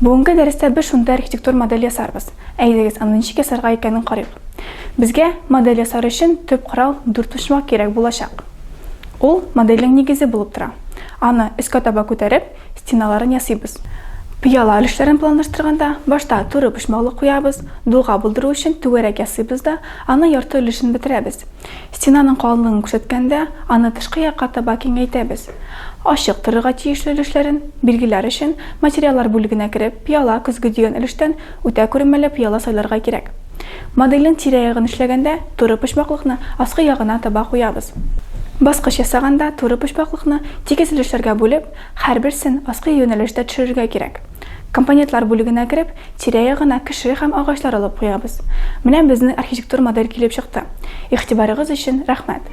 Бүгенге дәрестә без шундый архитектур модель ясарбыз. Әйдәгез, аны ничек ясарга икәнен карыйк. Безгә модель ясар өчен төп корал дүртпочмак кирәк булачак. Ул модельнең нигезе булып тора. Аны өскә таба күтәреп, стеналарын ясыйбыз. Пыяла өлешләрен планлаштырганда, башта туры почмаклы куябыз, дуга булдыру өчен түгәрәк ясыйбыз да, аның ярты өлешен бетерәбез. Стенаның калынлыгын күрсәткәндә, аны тышкы якка таба киңәйтәбез. Ачык торырга тиешле өлешләрен билгеләр өчен, материаллар бүлегенә кереп, пыяла, көзге дигән өлештән үтә күренмәле пыяла сайларга кирәк. Модельнең тирә-ягын эшләгәндә, туры почмаклыкны аскы ягына таба куябыз. Баскыч ясаганда, туры почмаклыкны тигез өлешләргә бүлеп, Һәрберсен аскы юнәлештә төшерергә кирәк. Компонентлар бүлегенә кереп, тирә-ягына кеше һәм агачлар алып куябыз. Менә безнең архитектур модель килеп чыкты. Игътибарыгыз өчен рәхмәт!